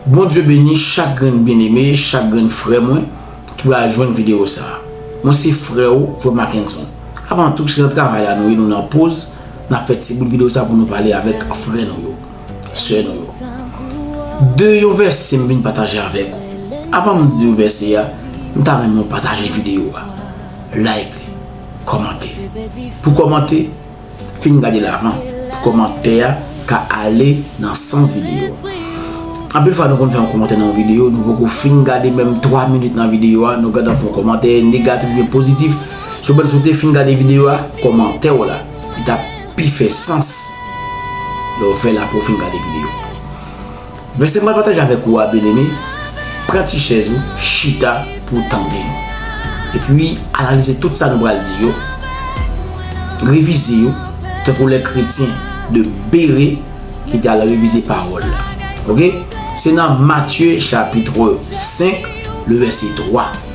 Bondye beni chak grenn byeneme, chak grenn frè mwen ki pral jwenn videyo sa. Mwen se frè ou, frè Mackenson. Avan tou, se nan travay la nou ye, nou nan poz, n ap fè ti bout videyo sa pou nou pale avèk frè nou yo, sè nou yo. De yon vèse m vin pataje avèk ou. Avan m di ou vèse a, m ta renmen ou pataje videyo a, like li, kòmante. Pou kòmante. Fin gade l avan kòmantè a ka ale nan sans videyo a. Anpil fwa nou konn fè yon kòmantè nan yon videyo, nou poko fin gade menm 3 minit nan videyo a, nou gentan fè yon kòmantè negatif oubyen pozitif. Sou mwen si w te fin gade videyo a, kòmantè w la, li t ap pi fè sans lè w fè l apre w fin gade videyo a. Vèsè m pral pataje avèk ou a, byeneme, pran ti chèz ou, chita pou w tande l. Epi, analize tout sa nou pral di yo, revize yo, tankou lè kretyen de Bere ki te al revize pawòl la. Ok? Se nan Matye chapitre 5, le vèse 3.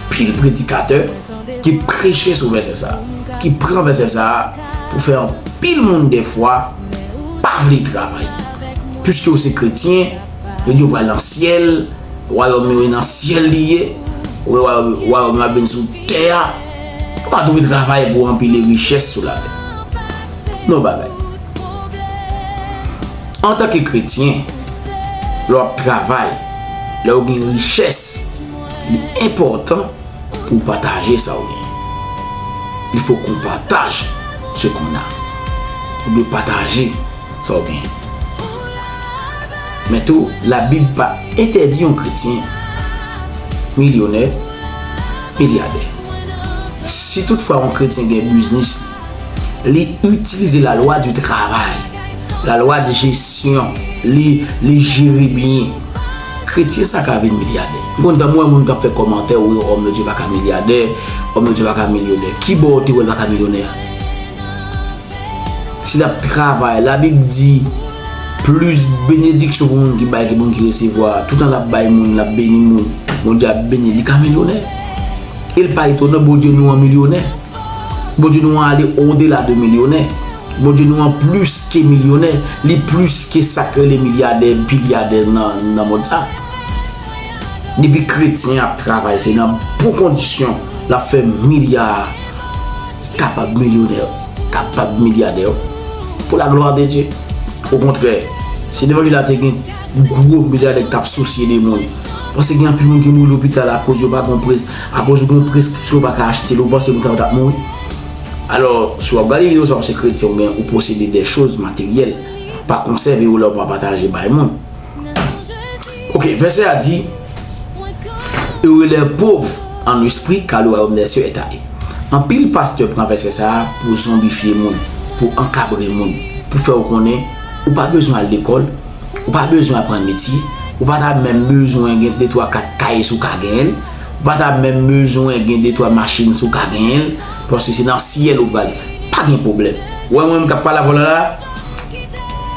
Pil predikatè te preche sou vèsè sa a, ki pran vèsè sa a pou fè anpil moun dèfwa pa vle travay. Piske yo se kretyen, yo di yo pral nan syèl, wayòm yo e nan syèl li ye, wè wayòm yo ap vin sou tè a, ou pa dwe travay pou anpile richès sou latè. Men yon bagay, antanke kretyen, lè w ap travay, lè ou gen richès, Li enpòtan pou w pataje sa w genyen. Li fòk ou pataj se kounya. Ou dwe pataje sa w genyen. Men tou, Labib pa entèdi yon kretyen milyonè milyadè. Si toutfwa yon kretyen gen biznis li, Li itilize la lwa di travay, la lwa di jesyon, li jere byen. Kretyen sa ka vin milyadè. M konn tanm wè moun kap fè kòmantè wi òm yo di yo paka milyadè, òm yo di yo paka milyonè. Kibò ou te wèl paka milyonè a? Si lap travay, la bib di plis benediksyon pou moun ki bay ke moun ki resevwa. Toutan lap bay moun, lap beni moun, Bondye ap benil, li ka milyonè. El pa etonan Bondye nou an milyonè. Bondye nou an ale odela de milyonè. Bondye nou an plis ke milyonè. Li plis ke sa k rele milyadè, bilyadè nan mond sa. Depi kretyen ap travay se nan bon kondisyon l ap fè milya a. Li kapab milyonè, kapab milyadè. Pou la glwa de Dye. O kontrè, si levanjil la te gen gwo milyadè k t ap sousye de moun. Pase gen anpil moun ki mouri lopital akoz yo pa konpre. Akoz ou gen preskripsyon ou pa ka achte li ou panse moun sa yo tap mouri? Alò, si wap gade video sa ou se kretyen ou byen ou posede de choz materyèl, pa konsève yo lèw pa pataje bay moun. Ok, vèsè a di, Heureux les pauvres en esprit car le royaume des cieux est à eux. Anpil pastè pran vèsè sa a pou zonbifye moun, pou ankabre moun, pou fè ou konnen ou pa bezwen al lekòl, Ou pa bezwen aprann metye, ou pa ta menm bezwen gen de twa kat kay si ou ka genyen l, ou pa ta menm bezwen gen de twa machin si ou ka genyen l, paske se nan syèl ou pral, pa gen pwoblèm. Ou wè mwen menm k ap pale avè w la la a,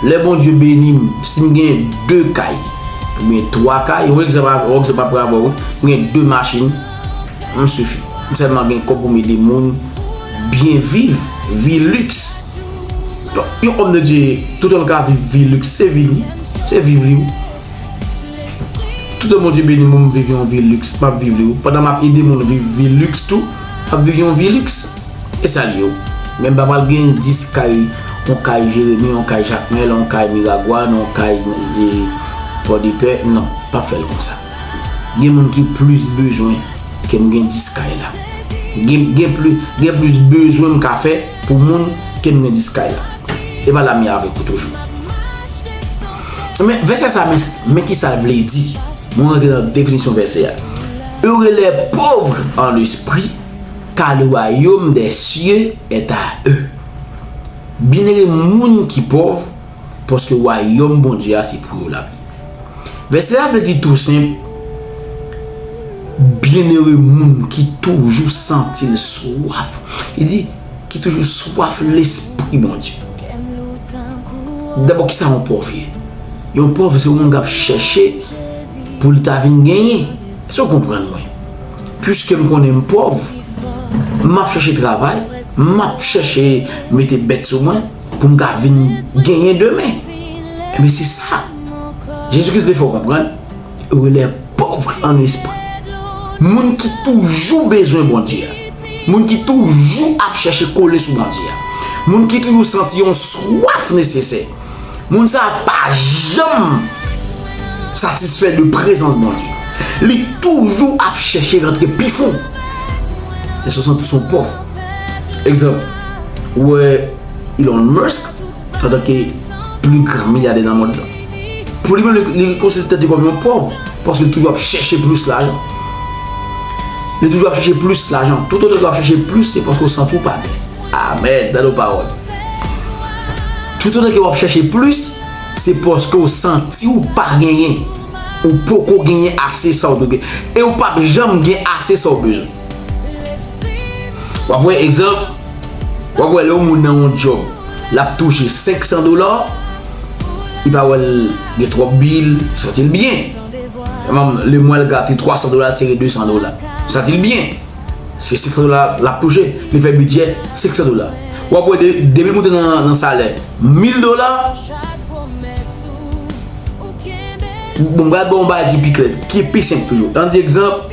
lè Bondye beni m, si m gen de kay, oubyen twa kay, yon egzanp aprè avè w wi, m gen de machin, m sifi. M sèlman gen kòb pou m ede moun byen viv, vi liks. Donk yon homme de Dieu tout an l ka viv vi luxe se vi l wi se viv li wi tout an Bondye beni mwen m viv yon vi luxe map viv li wi pandan map ede moun viv vi luxe tou map viv yon vi luxe e sa l ye wi men m pa pral gen 10 kay yon kay Jérémie yon kay Jacmel yon kay Miragoâne yon kay Pòdepè non pap fè l konsa gen moun ki plis bezwen ke m gen 10 kay la gen gen plis bezwen m ka fè. Pou moun ke nmen dis kay la. E pa la mi avek ou toujou. Men vese sa mis men ki sal vle di. Mwen rantre nan definisyon vese a. Heureux les pauvres en l'esprit car le royaume des cieux est à eux. Byenere moun ki pov. paske wayòm Bondye a se pou yo l ap ye. Vèsè a vle di tou senp, Byennere moun ki toujou santi l swaf, li di, ki toujou swaf lespri Bondye. Dabò, ki sa yon pòv ye? Yon pòv se yon moun k ap chèche pou l ta vin genyen. Èske w konprann mwen? Piske m konnen m pòv, m ap chèche travay, m ap chèche mete bèt sou mwen. pou m ka vin genyen demen. Enben se sa Jezi Kris te fè w konprann, yo rele l pòv an lespri. Moun ki toujou bezwen Bondye a, moun ki toujou ap chèche kole sou Bondye a, moun ki toujou santi yon swaf nesesè, moun sa a pa janm satisfè de prezans Bondye. Li toujou ap chèche rantre pi fon. Se sa w santi w se yon pòv. Egzanp, ou wè Elon Musk antanke pli gran milyadè nan mond lan. Pou li menm li konsidere tèt li kòm yon pòv paske li toujou ap chèche plis lajan. Li toujou ap chèche plis lajan. Tout otan ou ap chèche plis se paske ou santi ou pa byen. Amen, bèl ou pawòl. Tout otan ou ap chèche plis se paske ou santi ou pa genyen. Ou poko genyen ase sa ou dwe genyen. E ou pap janm gen ase sa ou bezwen. Wap wè egzanp, wap wè lè yon moun nan yon djòb, lap touche 500 dola, li pa wèl gen twòp bil, santi l byen. Emanm, lè mwen al gate 300 dola, sere 200 dola, santi l byen. Se 500 dola lap touche, li fè bidjè 500 dola. Wap wè depi l moute nan salè 1000 dola, bon m pral ba w yon bagay ki pi klè, ki pi senp toujou. An di egzanp.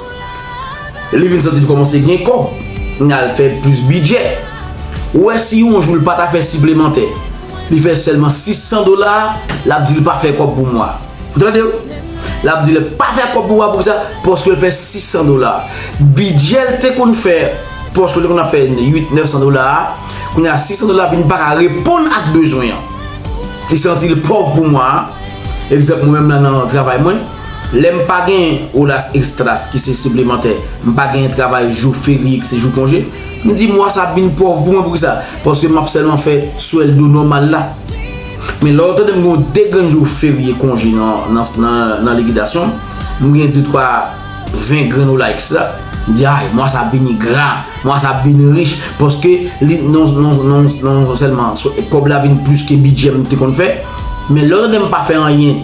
Li vin santi l kòmanse gen kò, li al fè plis bidjè. Ou wè si yon jou l pa ta fè siplemantè, li fè sèlman 600 dola, l ap di l pa fè kòb pou mwa. Ou tande w? L ap di l pa fè kòb pou mwa poukisa? Paske l fè 600 dola. Bidjè l te konn fè, paske l te konn ap fè 8, 900 dola a, kounye a 600 dola vin pa ka reponn ak bezwen an. Li santi l pòv pou mwa a. Egzanp mwen menm la nan travay mwen. Lè m pa gen horas extras ki se siplemantè, m pa gen travay jou ferye ki se jou konje, m di mwa sa ap vin pòv pou mwen poukisa? Paske m ap sèlman fè swèldo nòmal la. Men lè w tande m gen yon de grenn jou ferye konje nan likidasyon m, m gen detwa ven grenn hola extra, m di ay mwa sa ap vin gra, mwa sa ap vin rich paske li non sèlman kòb la vin plis ke bidjè m te konn fè. Men lè w tande m pa fè anyen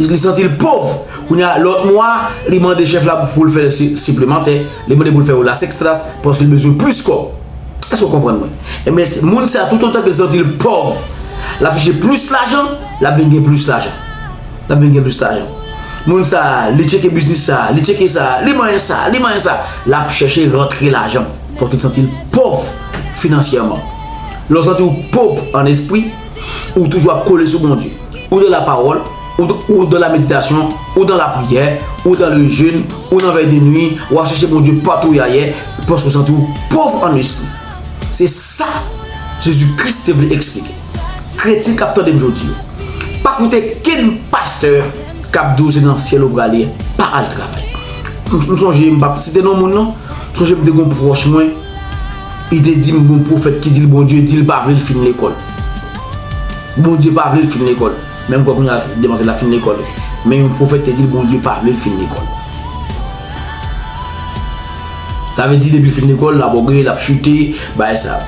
Li santi l pov. Kounye a, lòt mwa, li mande chèf la pou l fè l siplemantè. Li mande pou l fè oras ekstras paske l bezwen plis kòb. Èske w konprann mwen? Enben, moun sa a toutotan ke l santi l pòv, l ap chèche plis lajan, l ap vin gen plis lajan. L ap vin gen plis lajan. Moun sa a, li tcheke biznis sa a, li tcheke sa a, li manyen sa a, li manyen sa a. L ap chèche rantre lajan paske l santi l pòv finansyèman. Lè w santi w pòv an espri. Ou toujou ap kole sou Bondye. Ou dan la pawòl, ou dan la meditasyon, ou dan la priyè, ou dan le jèn, ou nan vèy de nwi, ou ap chèche Bondye patou ya ye, paske ou santi ou pov an lespri. Se sa Jezi Kris te vle eksplike. Kretyen k ap tande m jodi yo, pa koute kenn pastè k ap di w se nan syèl ou prale pa al travay. M sonje, m p ap site non moun non, m sonje m te gen yon pwòch mwen, Li te di m gen yon pwofèt ki di l Bondye di l pa vle l fin lekòl. Bondye pa vle l fin lekòl. Men m kwè kounye a demwazel la fin lekòl. Men yon pwofèt te di l Bondye pa vle l fin lekòl. Sa vle di depi l fin lekòl l ap ògeye, l ap chite, bagay sa yo.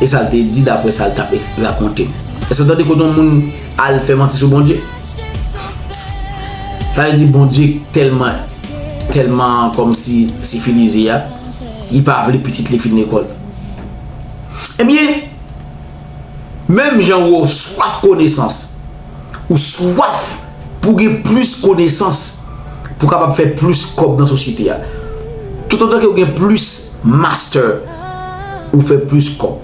E sa l te di dapre sa l t ap rakonte m. Èske w tande kote yon moun al fè manti sou Bondye? Sa vle di Bondye tèlman, tèlman kòmsi sifilize a. li pa vle pitit li fin lekòl. Ebyen, menm jan ou swaf konesans, ou swaf pou gen plis konesans pou w kapab fè plis kòb nan sosyete a. Toutotan ke ou gen plis master, ou fè plis kòb.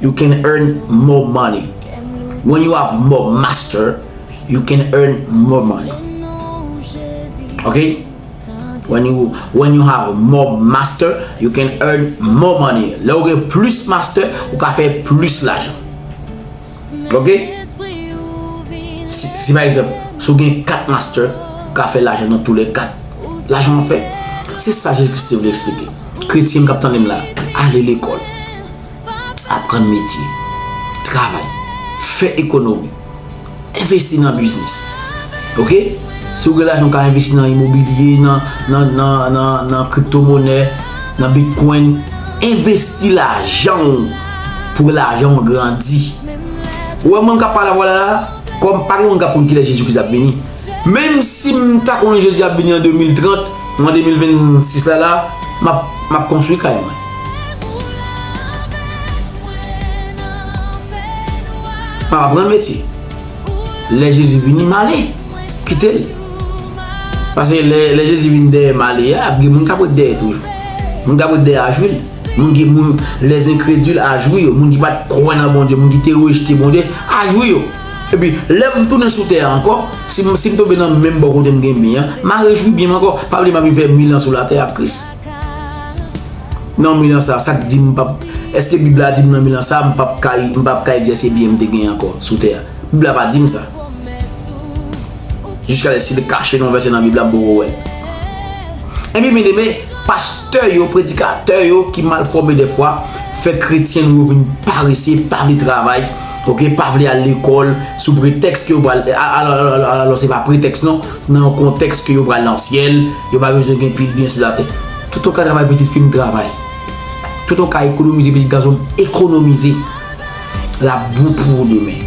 You can earn more money. When you have more master, you can earn more money. Ok? When you have more master, you can earn more money. Lè ou gen plis master, ou ka fè plis lajan. Ok? Si pa egzanp, si ou gen 4 master, ou ka fè lajan nan tou lè 4. Lajan ou fè. Se sa Jezi Kris te vle eksplike. Kretyen m k ap tande m la, ale lekòl, aprann metye, travay, fè ekonomi. Envesti nan biznis ok si ou gen lajan ou ka envesti nan imobilye nan kripto monè nan bitcoin envesti lajan ou pou lajan ou grandi ou wè moun kap pale avèw la kòm pa gen moun kap konn kilè jezi kris ap vini menm sim ta konnen jezi ap vini an 2030 ou an 2026 la la map konstwi kay mwen. Pa aprann metye. Lè Jezi vini male, kite l. Pase lè Jezi vini dèyè male a, ap gen moun k ap ret dèyè toujou. Moun k ap ret dèyè a jwi l. Moun ki moun lèzenkredil a jwi yo. Moun ki pa t kwè nan Bondye, moun ki te rejte Bondye a jwi yo. Epi, lè m tounen sou tè a ankò, si m tonbe nan menm bò kote m gen byen an, m a rejwi byen m ankò. Pa bliye m ap vin fè mil an sou latè ak Kris. Nan milan sa, sa k di m pap, eske bib la di m nan milan sa m pap ka, m pap ka egzèse byen m te genyen ankò sou tè a? Bib la pa di m sa. Jiskalè si li kache nou yon vèsè nan bib la m poko wè l. Ebyen byeneme, pastè yo, predikatè yo ki mal fòme dèfwa fè kretyen nou yo vin parese, pa vle travay, ok, pa vle al lekòl sou pretèks ke yo pral, alalòlalòlalò se pa pretèks non. Nan yon kontèks ke yo pral nan syèl, yo pa bezwen gen pil byen sou latè. Toutan w ka travay pitit fi m travay. Toutan w ka ekonomize pitit gason m ekonomize. L ap bon pou ou demen.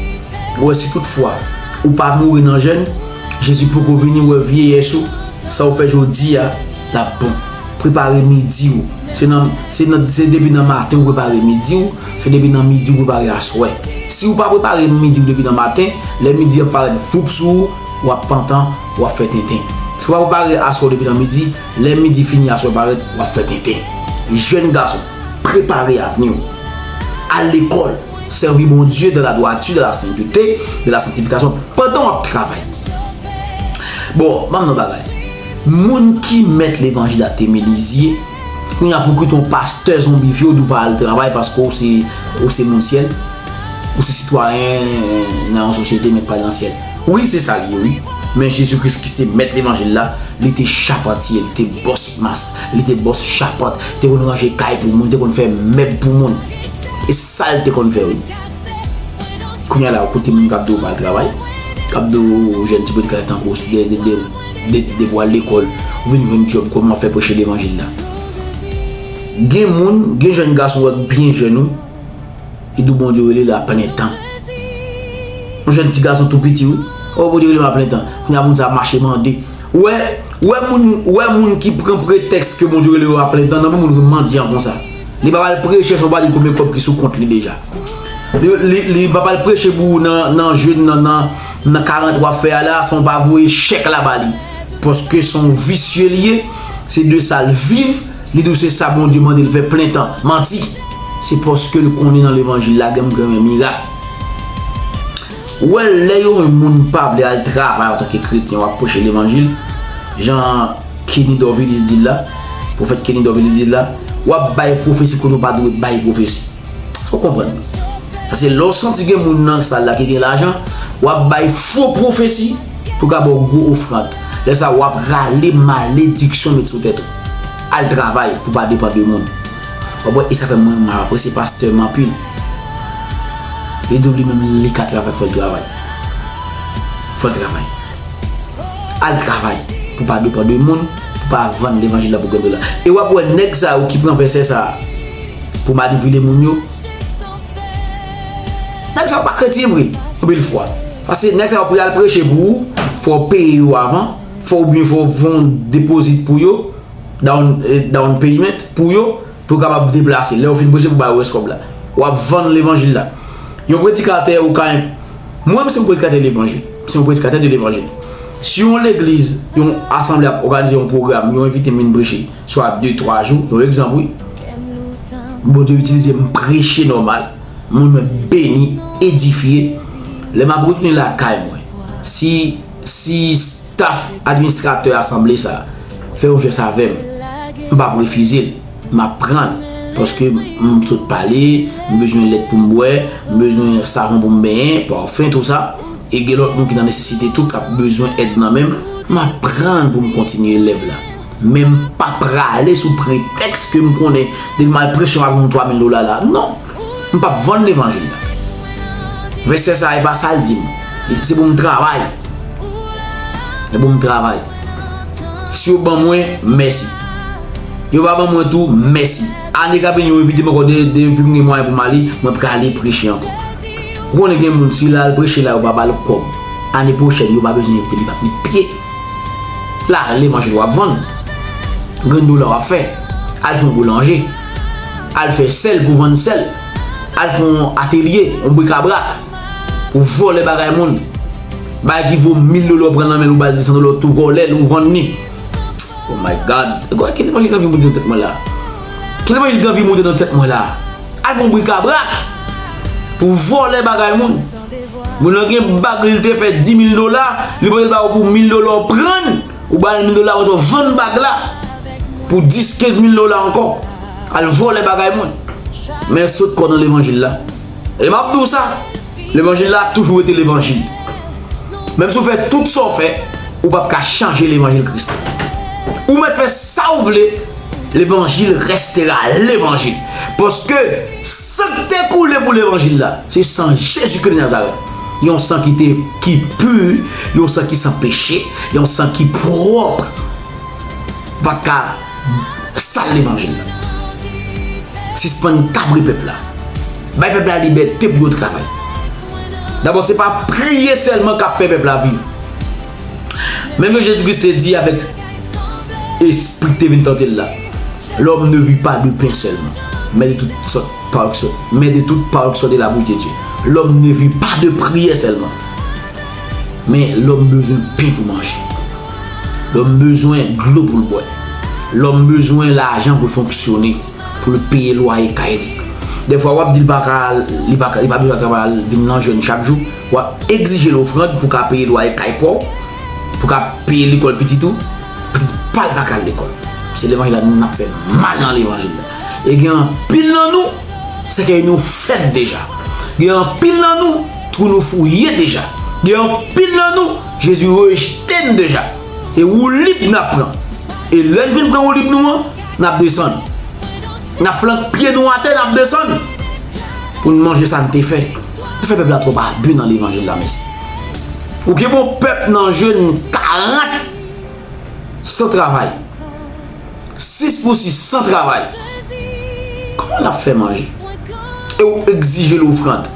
Ou wè si tout fwa ou pa mouri nan jèn, Jezi poko vini wè vyeyès ou, sa ou fè jodi a, l ap bon. Prepare midi ou. Se nan, se nan, se depi nan maten ou prepare midi ou, se depi nan midi ou prepare aswè. Si ou pa prepare midi ou depi nan maten, lè midi an parèt voup sou ou, Wap pantan, wap fè tenten. Si wap pare aswè ou depi nan midi, lè midi fini aswè parèt, wap fè tenten. Jèn gason, prepare avni ou. Al lekòl, sèvi Bondye dan la dwati, dan la sentete, dan la santifikasyon pandan wap travay. Bon, banm non bagay. Moun ki mèt levanjil la te Melizye, kounye a pou kite yon pastè zonbifye ou di ou pa al travay paske ou se moun syèl, ou se sitwayen nan yon sosyete men k pa al nan syèl. Wi se sal ye wi, men Jezi Kris ki se mèt levanjil la, li te chapantye, li te bòs mas, li te bòs chapant, li te konn ranje kay pou moun, li te konn fè mèb pou moun. E sal te konn fè wi. Kounya la ou koute moun kap di ou pa al travay, kap di ou jèn ti boutik la tankou ou de de de de depi wal lekòl ou vin jwenn djòb kòman wap fè preche levanjil la. Gen moun, gen jèn gason wap byen jèn wi. Idou Bondye rele l a plen tan. Yon jèn ti gason tou piti wi. Oh Bondye rele m a plen tan. Kounye a moun sa mache mande. Ou wè, ou wè moun, ou wè moun ki pran pretèks ke Bondye rele yo a plen tan nan pou moun vin mandyan konsa. Li pap al preche san w pa di l konbyen kòb ki sou kont li deja. Li, li, li pap al preche pou ou nan, nan jèn nan, nan, nan karant w ap fè a la san w pa voye chèk la ba li. Paske se yon visye li ye, se de sa l viv. Li di w se sa Bondye mande l fè plen tan. Manti! Se paske l konnen nan levanjil la gen moun ki renmen mirak. Ou wè lè yon moun pa vle al travay antanke kretyen w ap preche levanjil, jan Kenny Dorvilus di l la, pwofèt Kenny Dorvilus di l la, w ap bay pwofesi kote w pa dwe bay pwofesi. Eske w konprann? Pase lè w santi gen moun nan sal la ki gen lajan, w ap bay fo pwofesi pou yo ka ba w gwo ofrand. Lè sa a, w ap rale malediksyon met sou tèt ou. Al travay pou w pa depann de moun. W ap wè, e sa fè mwen m apresye pastè m anpil. Li di w li menm li ka travay fò l travay. Fò l travay. Al travay pou w pa depann de moun, pou w pa vann levanjil la pou w gen dola. E w ap wè nèg sa yo ki pran vèsè sa a. Pou manipile moun yo. Nèg sa yo pa kretyen vre. Anpil fwa. Pase nèg sa yo pou yal preche pou ou, fò ou peye yo avan, fò ou byen fò ou von depozit pou yo, down payment, pou yo, pou yo kapab deplase. Lè ou fin preche pou bay ou rès kòb la. Ou ap vann levanjil la. Yon predikatè ou ka en. Mwen menm se yon predikatè levanjil. Se yon predikatè de levanjil. Si yon legliz, yon asanble ap oganize yon pwogram, yon envite m vin preche. swa 2, 3 jou, yon egzanp wi. Bondye itilize m preche nòmal, moun mwen beni, edifye. Lè m ap retounen lakay mwen, si, si staf administratè asanble sa a fè yon jès avè m, m p ap refize l, m ap pran l. Paske m sot pale, m bezwen lèt pou m bwè, m bezwen savon pou m benyen, pòfen, tou sa. E gen lòt moun ki nan nesesite tou k ap bezwen èd nan men m, m ap pran l pou m kontinye lèv la. Men m pa prale sou pretèks ke m konnen depi m al preche m ap jwenn 3 mil dola la. Non! M p ap vann levanjil la. Vèsè sa a e pa sa l di m. Li se pou m travay. Se pou m travay. Si yo ban mwen, mèsi. Yo pa ban mwen tou, mèsi. Ane k ap vini yo envite m ankò depi m gen mwayen pou m ale, mwen prale preche ankò. Ou konnen gen moun si l al preche la yo pa ba l kòb, ane pwochèn yo pa bezwen envite l, li p ap met pye. La ale manje wap vann. Grenn dola wap fè. Al fè yon boulanje. Al fè sèl pou vann sèl. Al fè yon atelye, yon brikabrak. Ou vòlè bagay moun. Bagay ki vo 1000 dola ou pran nan men l ou ba l 200 dola ou tou vòlè l ou vann ni. Oh my God! Gwa ki levanjil anvi moute nan tèt mwen la. Ki levanjil ki anvi moute nan tèt mwen la. Al fè yon brikabrak. Pou vòlè bagay moun. Moun nan gen bag li te fè 10000 dola, li voyel ba ou pou 1000 dola ou prann, ou bal 1000 dola apre sa ou vann bag la pou 10 15000 dola ankò. Al vòlè bagay moun. Men sot kò nan levanjil la. E map di ou sa, levanjil la ap toujou rete levanjil. Menm si ou fè tout sa ou fè, ou pap ka chanje levanjil Kris la. Ou mèt fè sa ou vle, levanjil restera levanjil. Paske San ki te koule pou levanjil la, se san Jezi Kri de Nazarèt. Yon san ki te, ki pu, yon san ki san peche, yon san ki pwòp. Pa ka sal levanjil la. Sispann kabre pèp la. Bay pèp la libète pou yo travay. Dabò se pa priye sèlman k ap fè pèp la viv. Menm jan Jezi Kris te di avèk espri ki te vin tante l la, Lòm ne vi pa de pen sèlman, men de tout sòt pawòl ki sòti nan bouch Bondye. Lòm ne vi pa de priyè sèlman, men lòm bezwen pen pou l manje, lòm bezwen dlo pou l bwè, lòm bezwen lajan pou l fonksyone, pou l peye lwaye kay li. Dèfwa w ap di li pa bezwen travay al vin nan jèn chak jou. W ap egzije l ofrand pou w ka peye lwaye kay pa w, pou w ka peye lekòl pitit ou, pitit pa l pa ka al lekòl. Se levanjil la nou menm n ap fè mal nan levanjil la. E gen anpil nan nou sèkèy nou fèt deja. Gen anpil nan nou twou nou fouye deja. Gen anpil nan nou Jezi rejte n deja. E woulib n ap pran. E lè n fin pran woulib nou an, n ap desann. N ap flank pye nou atè n ap desann pou n manje sa n te fè. Ou fè pèp la trop abu nan levanjil la mesi. Ou gen bon pèp nan jeunes 40 san travay. 6 pou 6 san travay. Koman lap fè manje? E ou egzijel ofrand.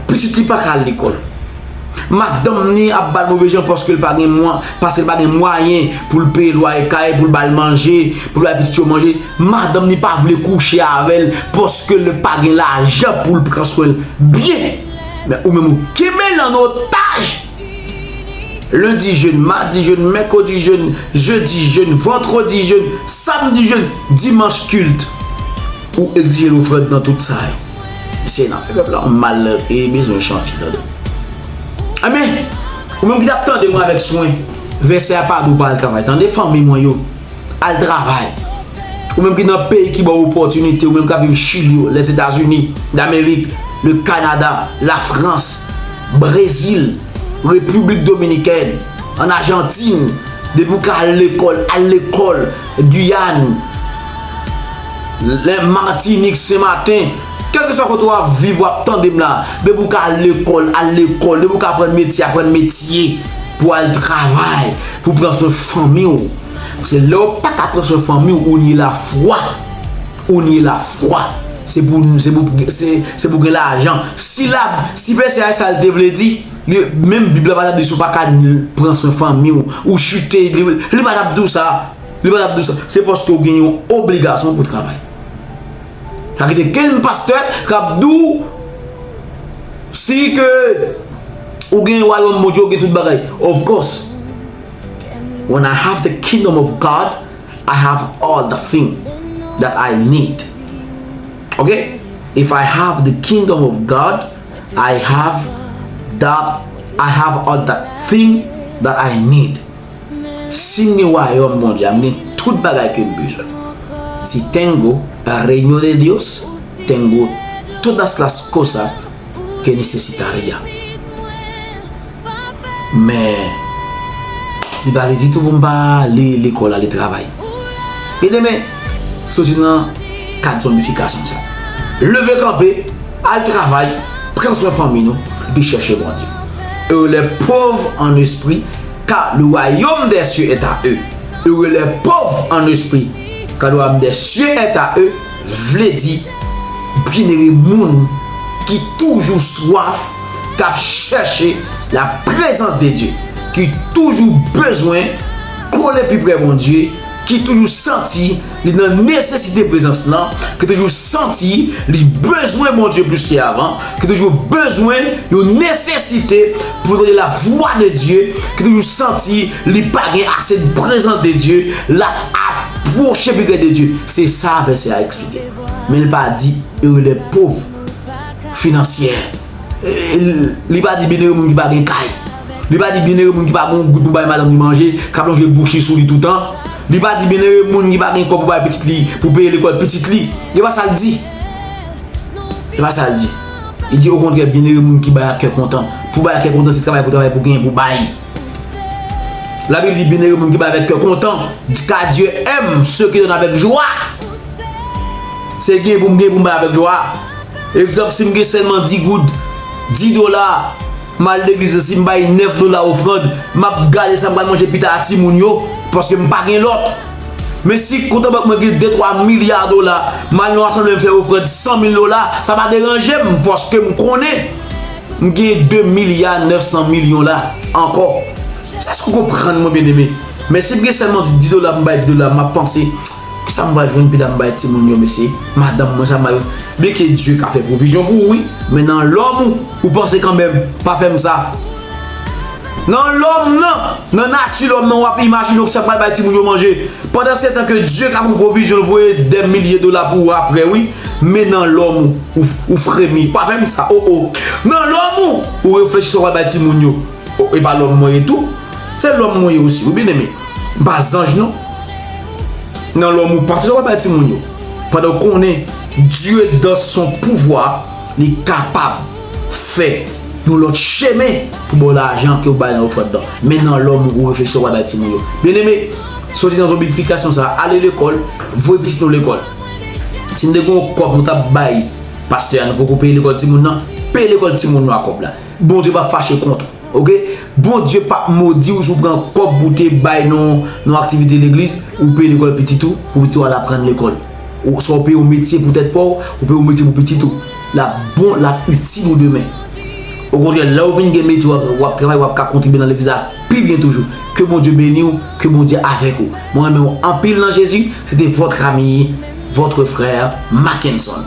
Pitit li paka al lekol. Madanm ni ap bal move jan paske l pa gen mwa, paske l pa gen mwayen pou l peye lwaye kay, pou l bal manje, pou l bay pitit yo manje. Madanm ni pa vle kouche avè l paske l pa gen lajan pou l pran swen l byen. Men ou menm ou kenbe l an otaj. Lendi jèn, madi jèn, mèkredi jèn, jedi jèn, vandredi jèn, samdi jèn, dimanch kilt. Ou egzije l ofrann nan tout sa yo. Mesye nap fè pèp la yon mal e bezwen chanje tande. Enben, ou menm ki tap tande mwen avèk swen, vèsè a pa di w pa al travay. Tande fanmi mwen yo, al travay. Ou menm ki nan peyi ki ba w opòtinite, ou menm kap viv Chili yo, Lèzetazini damerik, le Kanada, Lafrans, Brezil, Repiblik Dominikèn, an Ajantin, depi w ka al lekòl, al lekòl, Guyane. Lè matinik se maten, kèlkeswa kote wap viv wap tande m la, depi ou ka al lekòl al lekòl, depi ou ka aprann metye aprann metye pou al travay, pou pran swen fanmi w. Paske lè ou pa ka pran swen fanmi w ou nye lafwa, ou nye lafwa, se pou se pou se pou gen lajan. Si la si vèsè a sa l te vle di, li menm bib la pa tap di si w pa ka pran swen fanmi w, ou chite li pa tap di w sa. Li pa tap di w sa. Se paske w gen yon obligasyon pou w travay. Pa kite kenn pastè kap di w si ke ou gen wayòm Bondye ou gen tout bagay. Of course. When I have the kingdom of God, I have all the thing that I need. Ok? If I have the kingdom of God, I have that, I have all the thing that I need. Sim gen wayòm Bondye a m gen tout bagay kem bezwen si tengo reino de Dios tengo todas las cosas que necesitaria men li pa vle ditou poum pa ale lekòl ale travay e demen soti nan kad zonbifikasyon sa leve kanpe al travay pran swen fanmi nou epi chèche Bondye e lè pov an espri Car le royaume des cieux est à eux. Heureux les pauvres en esprit, car le royaume des cieux est à eux, vle di, Byenere moun ki toujou swaf, k ap chèche laprezans de Dye, ki toujou bezwen kole pi pre Bondye, ki toujou santi Li nan nesesite prezans lan, ki toujou santi li bezwen Bondye plis ke avan, ki toujou bezwen yon nesesite pou tande lavwa de Dye, ki toujou santi li pa gen ase de prezans de Dye, l ap apwoche pi pre de Dye. Se sa vèsè a eksplike. Men l pa di ere lè pov finansyè. Li pa di byenere moun ki pa gen kay. Li pa di byenere moun ki pa gen yon goud pou bay madanm li manje, k ap lonje bouch li sou li toutan. Li pa di bienere moun ki pa gen kob pou bay pitit li pou peye lekol pitit li. E pa sal di. E pa sal di. Li di okontre bienere moun ki bay ak kè kontan. Pou bay ak kè kontan se travay pou travay pou gen pou bay. La Bib di bienere moun ki bay avèk kè kontan ka Dieu aime ceux qui donnent avec joie. Se gen pou m gen pou m bay avèk jwa. Egzanp si m gen selman 10 goud, 10 dola. M al legliz lan si m bay 9 dola ofrand m ap gade sa m pral manje pita a timoun yo paske m pa gen lòt men si kont an bank mwen gen de twa milya dola m al nan yon asanble m fè ofrand 100 mil dola sa pa deranje m paske m konnen m gen 2 milya 900 milyon la ankò èske ou konprann mwen byeneme men si m gen sèlman 10 dola m bay 10 dola m ap panse Sa m pral jwenn pita m bay timoun yo mesye? Madanm mwen sa m bay Byen ke Dye ka fè pwovizyon pou ou wi Men nan lòm ou ou panse kanmenm Pa fè m sa Nan lòm nan Nan nati lòm nan w ap imajine w sa m pral bay timoun yo manje Pandansetan ke Dye ka fè yon pwovizyon l voye dè milye dola pou ou aprè wi Men nan lòm ou ou fremi Pa fè m sa o o Nan lòm ou ou reflechi sa w pral bay timoun yo Oh e pa lòm mwen ye tou? Se lòm mwen ye osi wi byeneme. M pa zanj non. Nan lòm ou pase sa wap bay timoun yo. Pandan ou konnen Dye dans son pouvwa li kapab fè yon lòt chemen pou baw lajan ke ou bay nan ofrand lan. Men nan lòm ou reflechi sa wap bay timoun yo. Byeneme, soti nan zonbifikasyon sa a, ale lekòl, voye pitit nou lekòl. Si nou te gen yon kòb nou tap bay pastè a nou poko peye lekòl timoun nan, peye lekòl timoun nou a kòb la. Bondye pap fache kont ou ok Bondye pap modiw si w pran kòb pou w te bay nan yon aktivite legliz ou peye lekòl pitit ou pou pitit ou al aprann lekòl oswa ou peye yon metye pou tèt pa w ou peye yon metye pou pitit ou lap bon lap itil ou demen okontrè lè ou vin gen metye wap travay wap ka kontribye nan legliz la pi byen toujou ke Bondye beni w ke Bondye avèk ou mwen renmen w anpil nan Jezi se te vòt Rami vòtre frè Mackenson.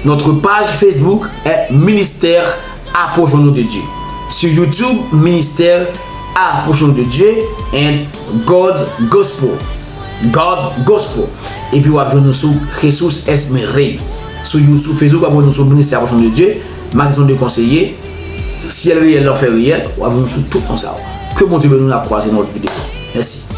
Notre page Facebook est Ministère Approchons-nous de Dieu. Sur YouTube, Ministère Approchons-nous de Dieu and God Gospel, God Gospel. Epi wap jwenn nou sou Jesus es mi Rey. Sou you sou Facebook wap jwenn nou sou Ministère Approchons-nous de Dieu, Magasin de Conseillers, Ciel Réel, L'Enfer Réel, wap jwenn nou sou tout non sa yo. Ke Bondye beni nou, n'ap kwaze nan lòt video. Mèsi.